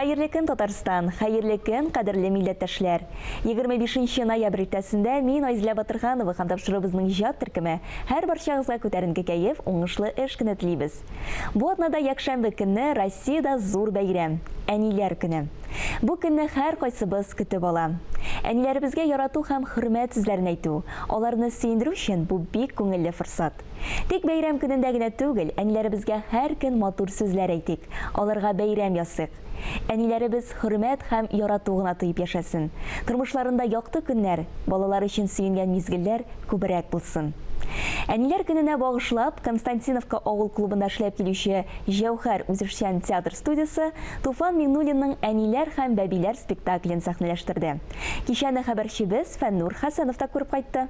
Хәерле көн Татарстан! Хәерле көн, кадерле милләттәшләр! Егерме бишенче ноябрь иртәсендә мин Айзлә Батырханова һәм тапшыруыбызның иҗат төркеме һәр барчагызга күтәренке кәеф, уңышлы эш көне телибез. Бу атнада якшәмбе көнне Россиядә зур бәйрәм, Әниләр көне. Бу көнне һәркайсыбыз көтеп ала. Әниләребезгә ярату һәм хөрмәт сүзләрен әйтү, аларны сөендерү өчен бу бик күңелле форсат. Тик бәйрәм көнендә генә түгел, әниләребезгә һәр көн матур сүзләр әйтик, аларга бәйрәм ясыйк. Әниләребез хөрмәт һәм ярату гына тоеп яшәсен, тормышларында якты көннәр, балалар өчен сөенгән мизгелләр күбрәк булсын. Әниләр көненә багышлап, Константиновка авыл клубында эшләп килүче Җәүһәр үзешчән театр студиясе Туфан Миңнуллинның Әниләр һәм бәбиләр спектаклен сәхнәләштерде. Кичәне хәбәрчебез Фәннур Хәсәнов та күреп кайтты.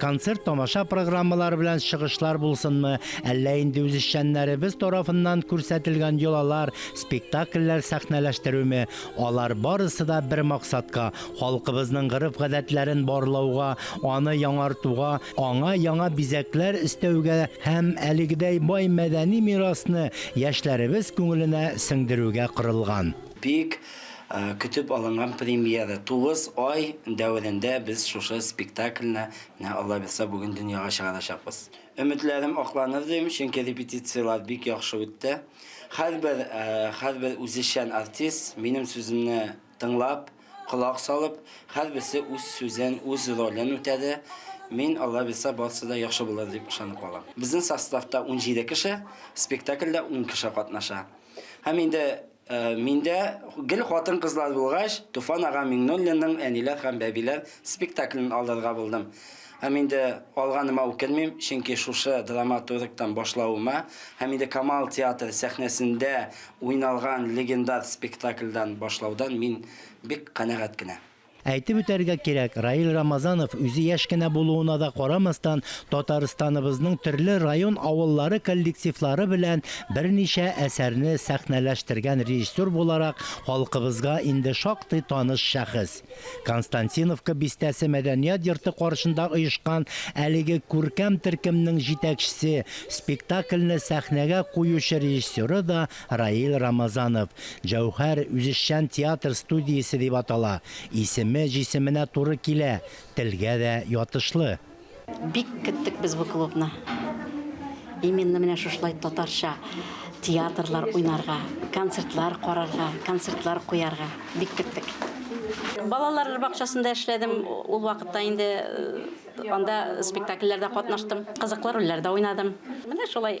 Концерт-тамаша программалары белән чыгышлар булсынмы, әллә инде үзешчәннәребез тарафыннан күрсәтелгән йолалар, спектакльләр сәхнәләштерүме, алар барысы да бер максатка, халкыбызның гореф-гадәтләрен барлауга, аны яңартуга, аңа яңа бизәкләр өстәүгә һәм әлегедәй бай мәдәни мирасны яшьләребез күңеленә сеңдерүгә корылган. Бик Көтеп алынган премьера, тугыз ай дәверендә без шушы спектакльне, менә Алла бирса, бүген дөньяга чыгарачакбыз. Өметләрем акланыр дим, чөнки репетицияләр бик яхшы үтте. Һәрбер, һәрбер үзешчән артист, минем сүземне тыңлап, колак салып, һәрберсе үз сүзен, үз ролен үтәде. Мин, Алла бирса, барысы да яхшы булыр дип ышанып калам. Безнең составта унҗиде кеше, спектакльдә ун кеше катнаша. Һәм инде Миндә гел хатын-кызлар булгач, Туфан ага Миңнуллинның Әниләр һәм бәбиләр спектаклен алырга булдым. Һәм инде алганыма үкенмим, чөнки шушы драматургтан башлавыма һәм инде Камал театры сәхнәсендә уйналган легендар спектакльдән башлаудан мин бик канәгать кенә. Әйтеп үтәргә кирәк, Раил Рамазанов, үзе яшь кенә булуына да карамастан, Татарстаныбызның төрле район авыллары коллективлары белән берничә әсәрне сәхнәләштергән режиссер буларак халкыбызга инде шактый таныш шәхес. Константиновка бистәсе мәдәният йорты каршында оешкан әлеге күркәм төркемнең җитәкчесе, спектакльне сәхнәгә куючы режиссеры да Раил Рамазанов, Җәүһәр, үзешчән театр студиясе дип атала. Исеме җисеменә туры килә, телгә дә ятышлы. Бик көттек без бу клубны. Именно менә шушылай татарча театрлар уйнарга, концертлар карарга, концертлар куярга бик көттек. Балалар бакчасында эшләдем, ул вакытта инде анда спектакльләрдә катнаштым, кызыклы рольләрдә уйнадым. Менә шулай.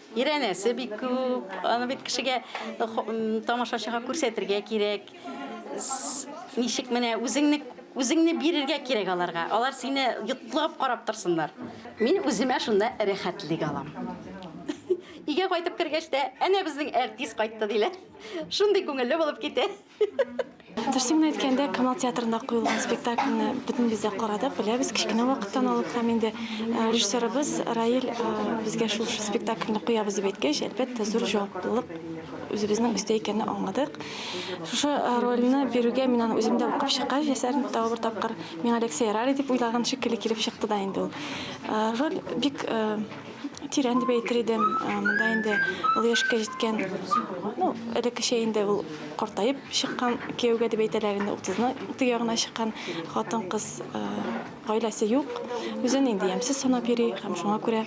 Өйрәнәсе бик күп. Аны бит кешегә тамашачыга күрсәтергә кирәк. Ничек менә үзеңне үзеңне бирергә кирәк аларга. Алар сине йотлыгып карап торсыннар. Мин үземә шунда рәхәтлек алам. Игә кайтып кергәч тә, әнә безнең әртис кайтты диләр. Шундый күңелле булып китә. Дөресен генә әйткәндә, Камал театрында куелган спектакльне бөтенебез дә карадык, беләбез кечкенә вакыттан алып һәм инде э, режиссерыбыз Раил э, безгә шул спектакльне куябыз дип әйткәч, әлбәттә, зур җаваплылык үзебезнең өстә икәнне аңладык. Шушы э, рольне бирүгә мин аны үзем дә укып чыккач, әсәрне тагы бер тапкыр миңа Алексей Рари дип уйлаган шикелле килеп чыкты да инде ул. Роль бик Тирән дип әйтер идем. Э, монда инде олы яшькә җиткән, ну, элеккечә инде ул картаеп чыккан кияүгә дип әйтәләр инде, 30-ның тыягына чыккан хатын-кыз э, гаиләсе юк. Үзен инде ямьсез санап йөри һәм шуңа күрә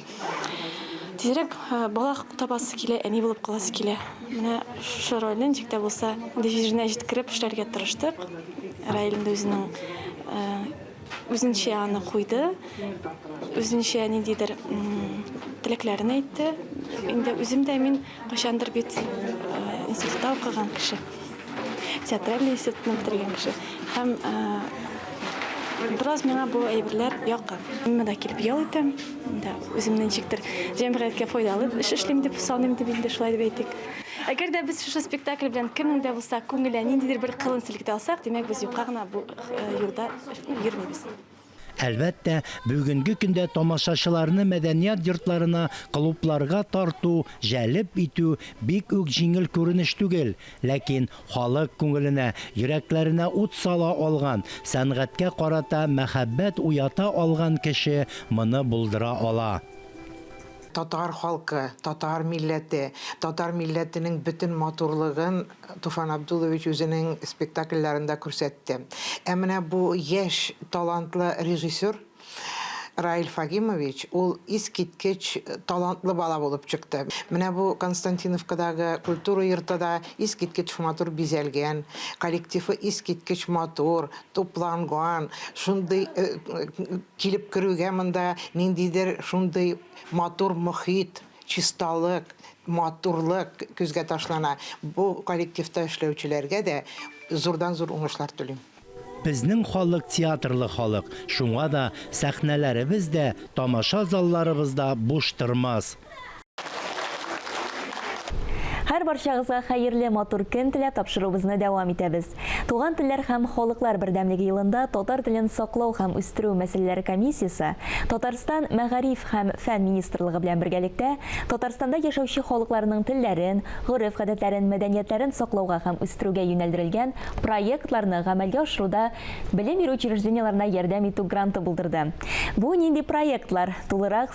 тизрәк э, бала табасы килә, әни булып каласы килә. Менә шушы рольне ничек тә булса, җиренә җиткереп эшләргә тырыштык. Раиль инде үзенең Үзенчә аны куйды, үзенчә ниндидер теләкләрен әйтте. Инде үзем дә мин кайчандыр бит институтта укыган кеше. Театральный институтны бетергән кеше. Һәм бераз миңа бу әйберләр якын. Мин монда килеп ял итәм. Монда үземне ничектер җәмгыятькә файдалы эш эшлим дип саныйм дип инде шулай дип әйтик. Әгәр дә без шушы спектакль белән кемнең дә булса күңеленә ниндидер бер кылын селкетә алсак, димәк, без юкка гына бу юлда йөрмибез. Әлбәттә, бүгенге көндә тамашачыларны мәдәният йортларына, клубларга тарту, җәлеп итү бик үк җиңел күренеш түгел. Ләкин халык күңеленә, йөрәкләренә ут сала алган, сәнгатькә карата мәхәббәт уята алган кеше моны булдыра ала. Татар халкы, татар милләте, татар милләтенең бөтен матурлыгын, Туфан Абдулович үзенең спектакльләрендә күрсәтте. Ә менә бу яшь талантлы режиссер Раил Фагимович, ул искиткеч талантлы бала булып чыкты. Менә бу Константиновкадагы культура йорты да искиткеч матур бизәлгән, коллективы искиткеч матур, тупланган, шундый килеп керүгә монда ниндидер шундый матур мохит. Чисталык, матурлык күзгә ташлана. Бу коллективта эшләүчеләргә дә зурдан-зур уңышлар телим. Безнең халык театрлы халык, шуңа да сәхнәләребез дә, тамаша залларыбыз да буш тормас. Һәр барчагызга хәерле, матур көн теләп, тапшыруыбызны дәвам итәбез. Туган телләр һәм халыклар бердәмлеге елында татар телен саклау һәм үстерү мәсьәләләре комиссиясе Татарстан Мәгариф һәм фән министрлыгы белән бергәлектә Татарстанда яшәүче халыкларның телләрен, гореф-гадәтләрен, мәдәниятләрен саклауга һәм үстерүгә юнәлдерелгән проектларны гамәлгә ашыруда белем бирү учреждениеләренә ярдәм итү гранты булдырды. Бу нинди проектлар? Тулырак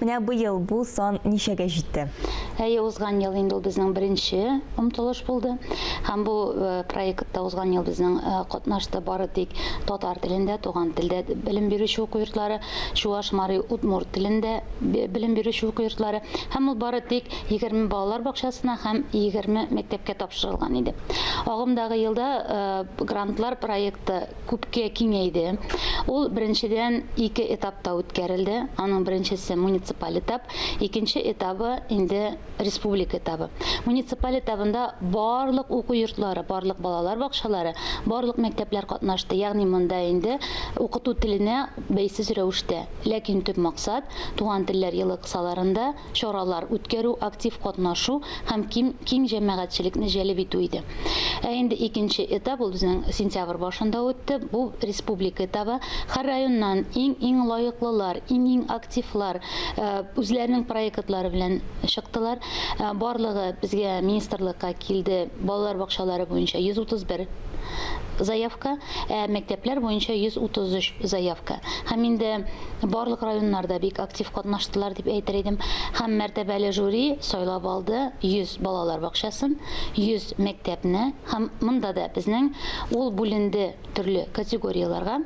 Менә быел бу сан ничәгә җитте? Әйе, узган ел инде ул безнең беренче омтылыш булды. Һәм бу э, проектта узган ел безнең э, катнашты бары тик татар телендә, туган телдә белем бирүче уку йортлары, чуаш, мари, удмурт телендә белем бирүче уку йортлары. Һәм ул бары тик 20 балалар бакчасына һәм 20 мәктәпкә тапшырылган иде. Агымдагы елда э, грантлар проекты күпкә киңәйде. Ул, беренчедән, ике этапта үткәрелде. Аның беренчесе, муниципаль этап, икенче этабы, инде республика этабы. Муниципаль этабында барлык уку йортлары, барлык балалар бакчалары, барлык мәктәпләр катнашты. Ягъни монда инде укыту теленә бәйсез рәвештә, ләкин төп максат, Туган телләр елы кысаларында, чаралар үткәрү, актив катнашу һәм ким киң җәмәгатьчелекне җәлеп итү иде. Ә инде икенче этап, ул безнең сентябрь башында үтте, бу республика этабы. Һәр районнан иң-иң лаеклылар, иң-иң активлар үзләренең проектлары белән чыктылар. Барлыгы безгә министрлыкка килде балалар бакчалары буенча 131 заявка, ә мәктәпләр буенча 133 заявка. Һәм инде барлык районнар да бик актив катнаштылар дип әйтер идем. Һәм мәртәбәле жюри сайлап алды 100 балалар бакчасын, 100 мәктәпне һәм монда да безнең ул бүленде төрле категорияләргә.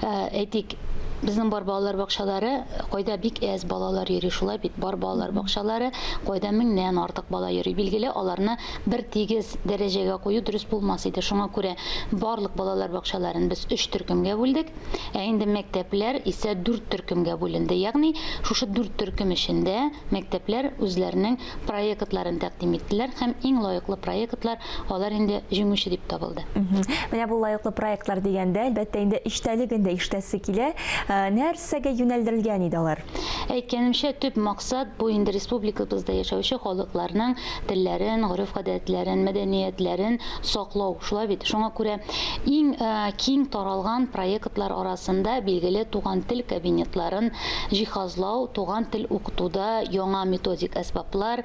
Ә, Әйтик, безнең бар балалар бакчалары кайда бик әз балалар йөри шулай бит бар балалар бакчалары кайда меңнән артык бала йөри билгеле аларны бер тигез дәрәҗәгә кую дөрес булмас иде шуңа күрә барлык балалар бакчаларын без өч төркемгә бүлдек Ә инде мәктәпләр исә дүрт төркемгә бүленде. Ягъни, шушы дүрт төркем эчендә мәктәпләр үзләренең проектларын тәкъдим иттеләр һәм иң лаеклы проектлар алар инде җиңүче дип табылды. Менә бу лаеклы проектлар дигәндә, әлбәттә, инде эчтәлеген дә ишетәсе килә. Нәрсәгә юнәлдерелгән иде алар? Әйткәнемчә, төп максат бу инде республикабызда яшәүче халыкларның телләрен, гореф-гадәтләрен, мәдәниятләрен саклау, шулай бит? Шуңа күрә иң киң таралган проектлар арасында, билгеле, туган тел кабинетларын җиһазлау, туган тел укытуда яңа методик әсбаплар,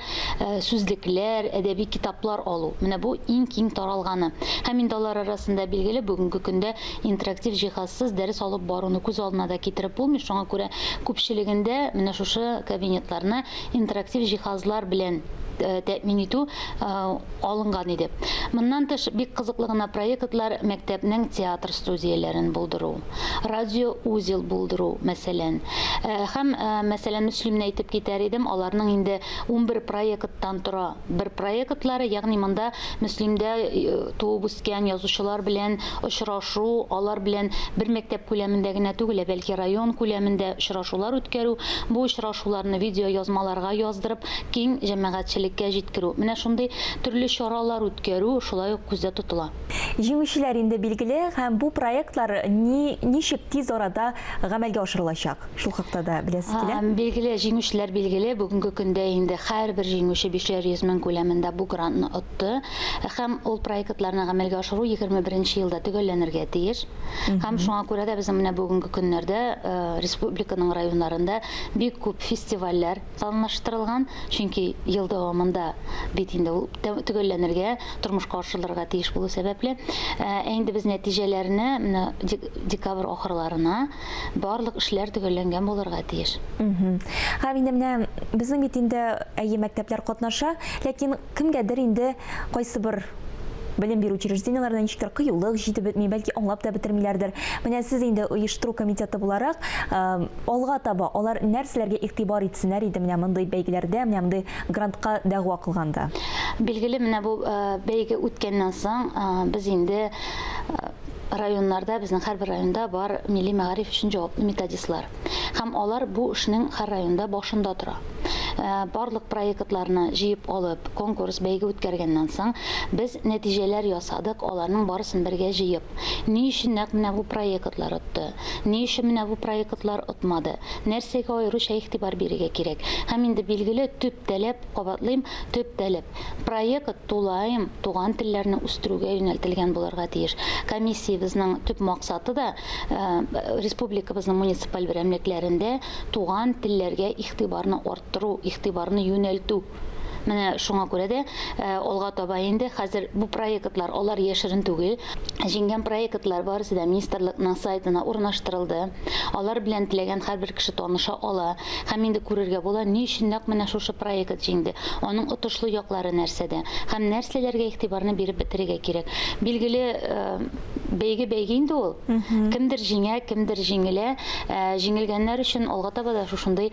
сүзлекләр, әдәби китаплар алу. Менә бу иң киң таралганы. Һәм инде алар арасында, билгеле, бүгенге көндә интерактив җиһазсыз дәрес алып баруны күз алдына да китереп булмый. Шуңа күрә күпчелегендә менә шушы кабинетларны интерактив җиһазлар белән э, тәэмин итү э, алынган иде. Моннан тыш бик кызыклы гына проектлар мәктәпнең театр студияләрен булдыру, радио узел булдыру, мәсәлән. Э, һәм мәсәлән, Мөслимне әйтеп китәр идем, аларның инде 11 проекттан тора. бер проектлары, ягъни монда Мөслимдә туып үскән язучылар белән очрашу, алар белән бер мәктәп күләмендә генә түгел, ә бәлки район күләмендә очрашулар үткәрү, бу очрашуларны видеоязмаларга яздырып, киң җәмәгатьчелеккә җиткерү. Менә шундый төрле чаралар үткәрү шулай ук күздә тотыла. Җиңүчеләр инде билгеле һәм бу проектлар ни ничек тиз арада гамәлгә ашырылачак? Шул хакта да беләсе килә. Һәм билгеле, җиңүчеләр билгеле. Бүгенге көндә инде һәрбер җиңүче 500 йөз мең күләмендә бу грантны отты. Һәм ул проектларны гамәлгә ашыру 21 нче елда төгәлләнергә тиеш. Һәм шуңа күрә дә безнең менә бүгенге көннәрдә э, республиканың районнарында бик күп фестивальләр планлаштырылган. Чөнки ел дәвамында бит инде ул төгәлләнергә, тормышка ашырылырга тиеш булу сәбәпле. Ә инде без нәтиҗәләрне декабрь ахырларына барлык эшләр төгәлләнгән булырга тиеш. Һәм инде менә безнең бит инде әйе мәктәпләр катнаша, ләкин кемгәдер инде кайсы бер белем бирү учреждениеләренә ничектер кыюлык җитеп бетми, бәлки аңлап та бетермиләрдер. Менә сез инде оештыру комитеты буларак, алга таба алар нәрсәләргә игътибар итсеннәр иде менә мондый бәйгеләрдә, менә мондый грантка дәгъва кылганда? Билгеле, менә бу бәйге үткәннән соң без инде Районнарда, безнең һәрбер районда бар милли мәгариф өчен җаваплы методистлар. Һәм алар бу эшнең һәр районда башында тора. Барлык проектларны җыеп алып, конкурс, бәйге үткәргәннән соң, без нәтиҗәләр ясадык, аларның барысын бергә җыеп. Ни өчен нәкъ менә бу проектлар отты? Ни өчен менә бу проектлар отмады? Нәрсәгә аеруча игътибар бирергә кирәк? Һәм инде билгеле, төп таләп, кабатлыйм, төп таләп, Проект тулаем туган телләрне үстерүгә юнәлтелгән булырга тиеш. Комиссиябезнең төп максаты да республикабызның муниципаль берәмлекләрендә туган телләргә игътибарны арттыру, игътибарны юнәлтү. Менә шуңа күрә дә алга таба инде хәзер бу проектлар алар яшерен түгел, Җиңгән проектлар барысы да министрлыкның сайтына урнаштырылды. Алар белән теләгән һәрбер кеше таныша ала һәм инде күрергә була, ни өчен нәкъ менә шушы проект җиңде, аның отышлы яклары нәрсәдә һәм нәрсәләргә игътибарны биреп бетерергә кирәк. Билгеле, бәйге бәйге инде ул. Кемдер җиңә, кемдер җиңелә. Җиңелгәннәр өчен алга таба да шушындый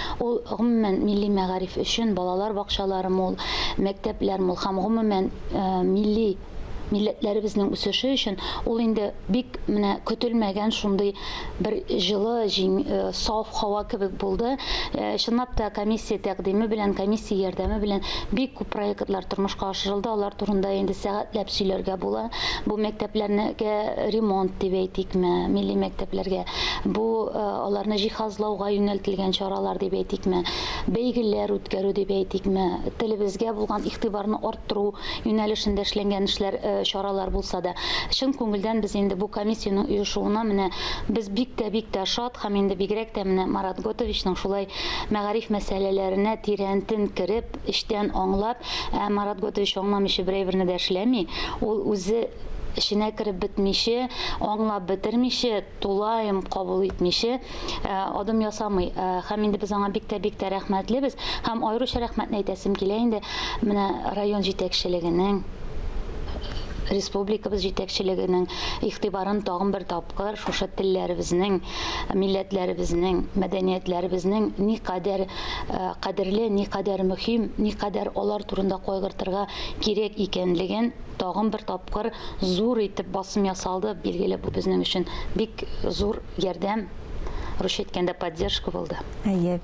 Ул, гомумән, милли мәгариф өчен балалар бакчалары мул, мәктәпләр мул һәм, гомумән, милли, милләтләребезнең үсеше өчен ул инде бик менә көтелмәгән шундый бер җылы, җиң, саф һава кебек булды. Чынлап та, комиссия тәкъдиме белән, комиссия ярдәме белән бик күп проектлар тормышка ашырылды, алар турында инде сәгатьләп сөйләргә була. Бу мәктәпләрнегә ремонт дип әйтикме, милли мәктәпләргә Бу э, аларны җиһазлауга юнәлтелгән чаралар дип әйтикме, бәйгеләр үткәрү дип әйтикме, телебезгә булган игътибарны арттыру юнәлешендә эшләнгән эшләр, э, чаралар булса да, чын күңелдән без инде бу комиссиянең оешуына менә без бик тә бик тә шат һәм инде бигрәк тә менә Марат Готовичның шулай мәгариф мәсьәләләренә тирәнтен кереп, Эчтән аңлап, ә Марат Готович аңламыйча берәйберне дә эшләми, ул үзе эченә кереп бетмичә, аңлап бетермичә, тулаем кабул итмичә адым ясамый. Һәм инде без аңа бик тә бик тә рәхмәтлебез. Һәм аеруча рәхмәтне әйтәсем килә инде менә район җитәкчелегенең, республикабыз җитәкчелегенең игътибарын тагын бер тапкыр шушы телләребезнең милләтләребезнең, мәдәниятләребезнең никадәр кадерле, никадәр мөһим, никадәр алар турында кайгыртырга кирәк икәнлеген тагын бер тапкыр зур итеп басым ясалды. Билгеле, бу безнең өчен бик зур ярдәм, русча әйткәндә поддержка булды. Әйе.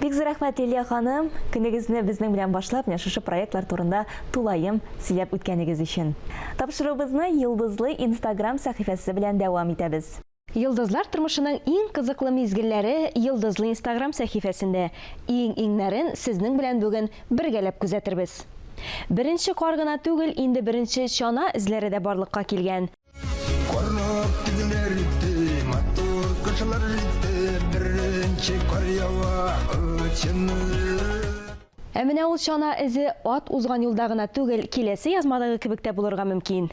Бик зур рәхмәт, Лилия ханым, көнегезне безнең белән башлап, менә шушы проектлар турында тулаем сөйләп үткәнегез өчен. Тапшыруыбызны Йолдызлы инстаграм сәхифәсе белән дәвам итәбез. Йолдызлар тормышының иң кызыклы мизгелләре Йолдызлы инстаграм сәхифәсендә. Иң-иңнәрен сезнең белән бүген бергәләп күзәтербез. Беренче кар гына түгел, инде беренче чана эзләре дә барлыкка килгән. Карап көннәр үтте, матур кышлар җитте, беренче кар ява, очынып. Ә менә ул чана эзе ат узган юлда гына түгел, киләсе язмадагы кебек тә булырга мөмкин.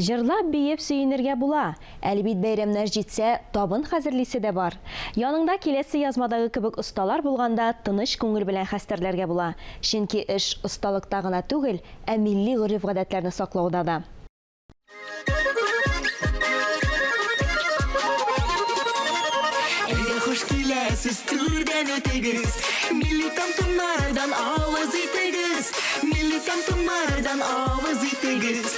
Җырлап-биеп сөенергә була, әле бит бәйрәмнәр җитсә, табын хәзерлисе дә бар. Яныңда киләсе язмадагы кебек осталар булганда тыныч күңел белән хәстәрләргә була, чөнки эш осталыкта гына түгел, ә милли гореф-гадәтләрне саклауда да. Әйдә хуш киләсез, түрдән үтегез, милли тантунардан авыз итегез, милли тантунардан авыз итегез.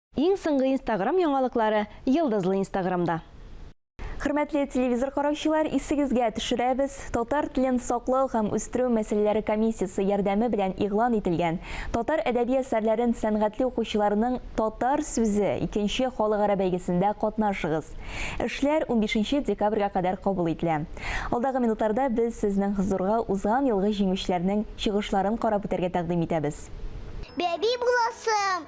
Иң соңгы инстаграм яңалыклары Йылдызлы инстаграмда. Хөрмәтле телевизор караучылар, исегезгә төшерәбез, Татар телен саклау һәм үстерү мәсьәләләре комиссиясе ярдәме белән игълан ителгән Татар әдәби әсәрләрен сәнгатьли укучыларның Татар сүзе икенче халыкара бәйгесендә катнашыгыз. Эшләр унбишенче декабрьгә кадәр кабул ителә. Алдагы минутларда без сезнең хозурга узган елгы җиңүчеләрнең чыгышларын карап үтәргә тәкъдим итәбез. Бәби буласым!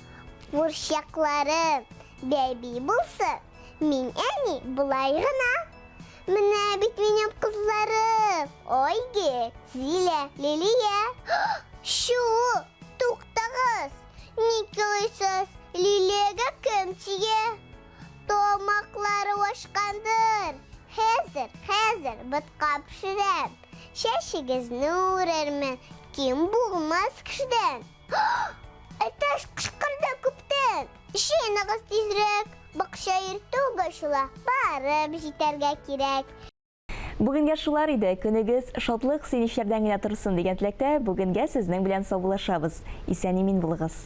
Бурчаклары бәби булсы, мин әни болай гына. Менә бит минем кызларым, Ойге, Зилә, Лилия. Шу, туктагыз, ник елыйсыз, Лилиягә кем тия? Томаклары ашкандыр, хәзер, хәзер бытка пешерәм. Чәчегезне үрермен, ким булмас кешедән. Әтәш кышкырды күптән. Чыныгыз тизрәк, бакча иртү башла, барып җитәргә кирәк. Бүгенгә шулар иде. Көнегез шатлык, сөенечләрдән генә торсын дигән теләктә, бүгенгә сезнең белән саубуллашабыз. Исән-имин булыгыз.